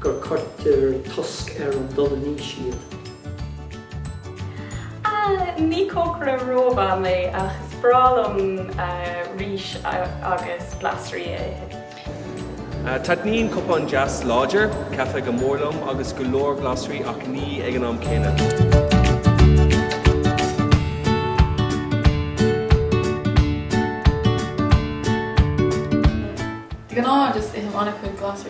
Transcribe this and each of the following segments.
go gcuirtear cosc ar an dul in aois iad. Ah, ní cócaire rómhaith mé ach is breá liom rís agus glasraí a ithe. Taitníonn cupán deas láidir caife go mór liom agus go leor glasraí ach ní ag an am céanna. De ghnáth just ithim an-chuid glasraí.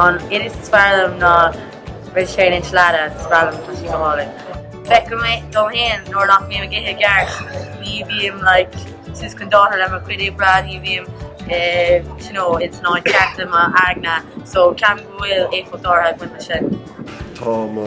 An iris is fearr liom ná Rith Sé Linn Sleaidte, is breá liom tá sí go hálainn. Feicim é dom fhéin nuair nach mbím ag ithe i gceart, ní bhím like suas chun dáta le mo chuid oibre, ní bhím eh you know ins an áit cheart i m'aigne so ceapaim go bhfuil éifeacht áirithe ag baint leis sin. Tá mo.